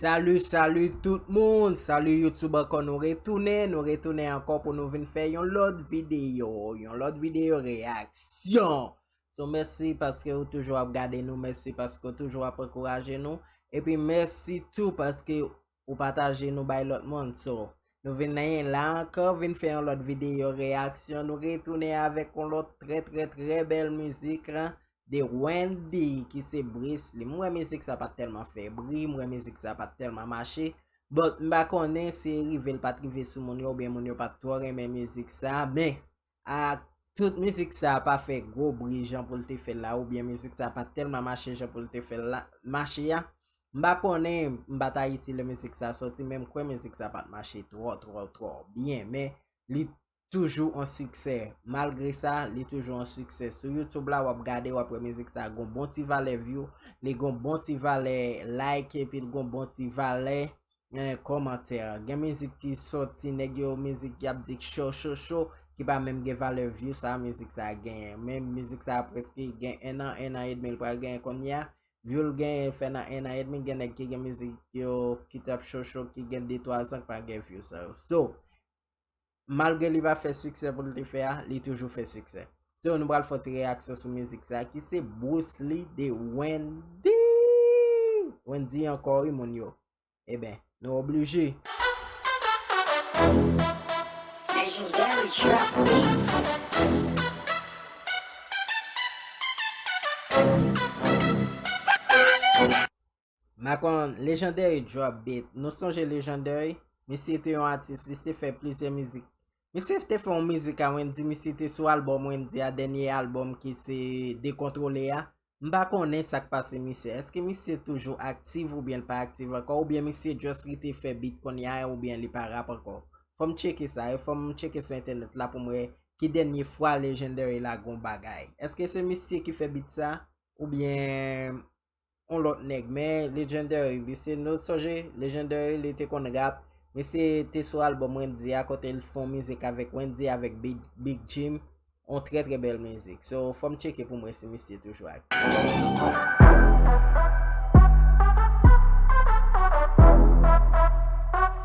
Salut salut tout moun, salut YouTube ankò nou retounen, nou retounen ankò pou nou vin fè yon lòt videyo, yon lòt videyo reaksyon. So mèsi paske ou toujou ap gade nou, mèsi paske ou toujou ap ankouraje nou, epi mèsi tou paske ou pataje nou bay lòt moun. So nou vin nan la ankò vin fè yon lòt videyo reyaksyon, nou retounen avèk yon lòt trè trè trè bèl mizik de Wendy ki se Bris li. M wè mizik sa pat tèlman fè bri, m wè mizik sa pat tèlman mache, but m pa konnen si rive l pat rive sou moun yo oubyen moun yo pat twò renmen mizik sa men Ahh tout mizik sa pa fè gwo bri jan pou l te fè l la oubyen mizik sa pa tèlman mache jan pou l te fè l la mache a m pa konnen m pa t ayiti lè mizik sa sòti men m kwè mizik sa pa t mache twò twò twò byen men li toujou an siksè malgre sa li toujou an siksè sou youtube la w ap gade w ap wè mizik sa gon bon ti valè view li gon bon ti valè like epi l gon bon ti valè Nan kòmantè, gen mizik ki sòti nèg yo mizik yap di k cho cho cho ki pa menm gen valè view sa mizik sa genyen men mizik sa preske gen 1 an 1 an edmi l pral genyen konnya view l genyen fè nan 1 an edmi gen nèg ki gen mizik yo ki tap cho cho ki gen 2 3 zan k pa gen view sa yo so Malgre li pa fè siksè pou l te fè a, li toujou fè siksè. So nou pral fè yon ti reyaksyon sou mizik sa ki se Brously de Wendy! Wendy ankò wi moun yo. Eben, nou oblije! Legendary Trap Beats. Macon Legendary drop beat Nou sonje Legendary? Misye te yon atis li se fè plizyè mizik Misye te fè yon mizik a Wendy misye te sou album Wendy a dènye album ki se Dekontrole a M pa konnen sa k pase misye Èske misye toujou aktiv oubyen l pa aktiv ankò oubyen misye just rete fè beat konnya a oubyen li pa rap ankò Fò m tcheke sa e fò m tcheke sou entènèt la pou m wè ki dènye fwa Legendary lage yon bagay Èske se misye ki fè beat sa oubyen yon lòt nèg men legendary li se no sonje legendary li te konn rap misye te sou album wendy a kote li te fon mizik avèk wendy avèk big jim yon trè trè bèl mizik so fòm tcheke poum wè si misye toujou aktif.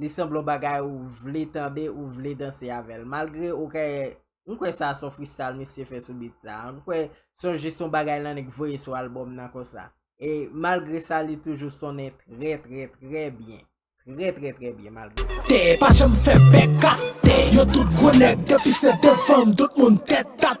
li sanble yon bagay ou vle tande, ou vle danse avè l. Malgre ou ka e, m kwè sa son freestyle misye fè sou beat sa. M kwè son jis yon bagay l annik voye sou albòm nan konsa. E malgre sa li toujou sonnen trè trè trè byen. Trè trè trè byen malgre sa. Tè pa janm fè bèk atè. Yo tout gwo nèg depi se devan m tout moun tèt ata.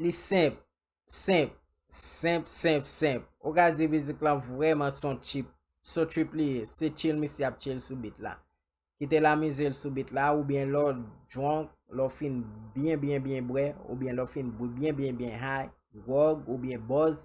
Li senp, senp, senp, senp, senp. Ou ka di mizik lan vrèman son chip, son trip li ye. Se chill misye ap chill sou beat la. Kite l amize l sou beat la oubyen lè w drunk, lè w fin byen byen byen bwè oubyen lè w fin byen byen byen high, gwòg oubyen buzz,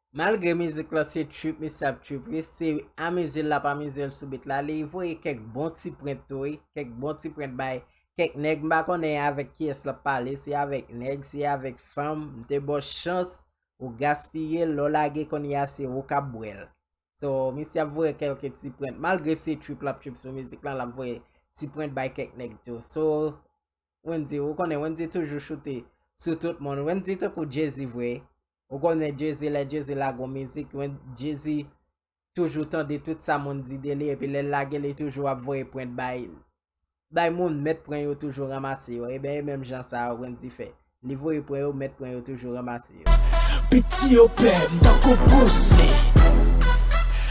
Malgre mizik lan se trip misye ap trip wi, se amize l l ap amize l sou bit la, li voye kèk bon ti prent tou wi, kèk bon ti prent bay kèk nèg m pa konnen avèk kiyès l ap pale, se avèk nèg, se avèk fanm, m te ba w chans ou gaspiye l, lè w lage kounye a se ou k ap bwè l. So, misye ap voye kèlke ti prent, malgre se trip l ap trip sou mizik lan l ap voye ti prent bay kèk nèg tou. So, Wendyy, ou konnen Wendyy toujou choute sou tout moun, Wendyy tankou Jay-Z vre, Ou konnen Jay-Z lè Jay-Z lage yon mizik, Jay-Z toujou tande tout sa moun di de li epi lè l lage li toujou ap voye prent bay bay moun, mèt pren yo toujou ranmase yo, eben e menm jan sa a Wendyy fè, li voye pren yo, mèt pren yo toujou ranmase yo. Piti yo pè m tankou Bruce Lee.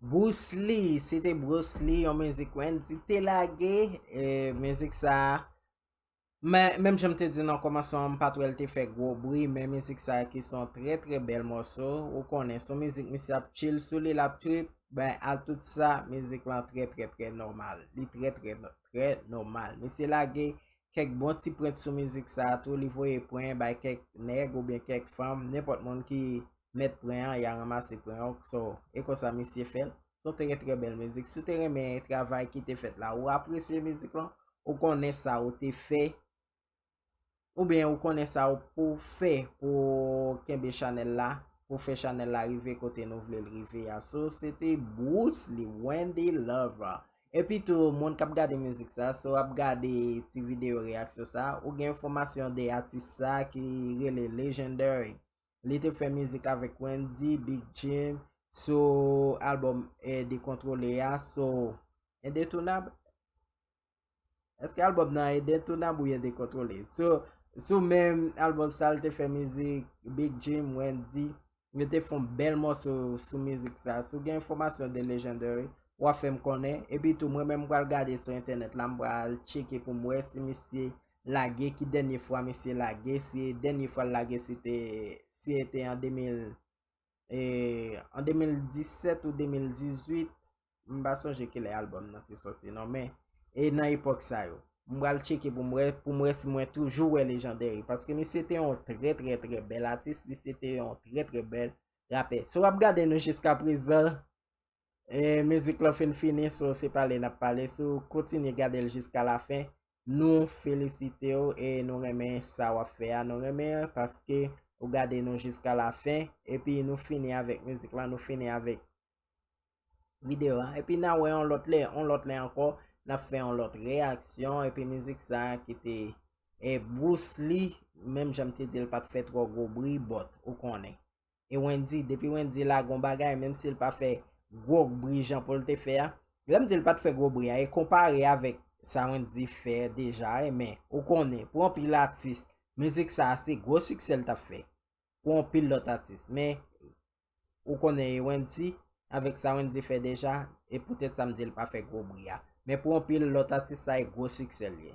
Bousli, se te Brousli, yon mizik Wendy te lage, e mizik sa, men, menm jan m te di nan kòmansman an, m pa t wè l te fè gwo bri, men mizik sa ki s on trè trè bèl mòso, ou konnen, s on mizik misye ap chill sou li, l ap trip, ben, a tout sa, mizik lan trè trè trè nòmal, li trè trè trè nòmal. Misye lage kèk bon ti prèt sou mizik sa a tou, li voye pren bay kèk nèg oubyen kèk fanm, nenpòt moun ki mèt pren an, ya ranmase pren an, so, e konsa misye fè l. Se yon trè trè bèl mizik. Si w te renmen travay ki te fèt la, ou apresye mizik lan, ou konnen sa ou te fè, oubyen ou konnen sa ou pou fè pou kenbe chanèl la, pou fè chanèl la rive kote nou vle l rive a. So, se te Bruce Lee, Wendy Lover. Epi tou moun kap gade mizik sa si w ap gade ti videyo reyaksyon sa ou gen enfòmasyon de atis sa ki rele Legendary li te fè mizik avèk Wendy, Big Jim sou albòm Dekontrole a so Endetunable? Eske album nan ede tou nan bouye dekontrole? Sou menm album sa l te fè mizik Big Jim, Wendyy, yo te fon bèl mòso sou mizik sa. Si w gen enfòmasyon de Legendary, w a fè m konnen. Epi tou mwen menm m pral gade sou entènèt la, m pral tcheke pou m wè si misye lage, ki dènye fwa misye lage, si dènye fwa l lage si e te an 2000. E an 2017 ou 2018, m pa sonje ki lè albòm nan te soti non men, e nan epòk sa yo. M pral tcheke pou m wè, pou m wè si mwen toujou wè Legendary. Paske misye te yon trè trè trè bèl atis, misye te yon trè trè bèl rapè. Si w ap gade nou jiska prezan, E mizik lan fin fini so se pale nap pale si w kontinye gade l jiska la fen nou felisite w e nou renmen sa wap fè a nou renmen an paske ou gade nou jiska la fen epi nou fini avèk mizik lan nou fini avèk videyo an epi nan wè yon lòt lè yon lòt lè ankò nap fè yon lòt reyaksyon epi mizik sa ki te e Bruce Lee menm jan m te di l pat fè twò gwo bri bòt ou konnen. e Wendyy depi Wendyy lage yon bagay menm si l pa fè gwo bri jan pou l te fè a lè m di l pa t fè gwo bri a e konpare avèk sa Wendyy fè deja e men ou konnen pou anpil atis mizik sa a se gwo siksè l t ap fè pou anpil lòt atis men ou konnen e Wendyy avèk sa Wendyy fè deja e poutèt sa m di l pa fè gwo bri a men pou anpil lòt atis sa e gwo siksè l ye.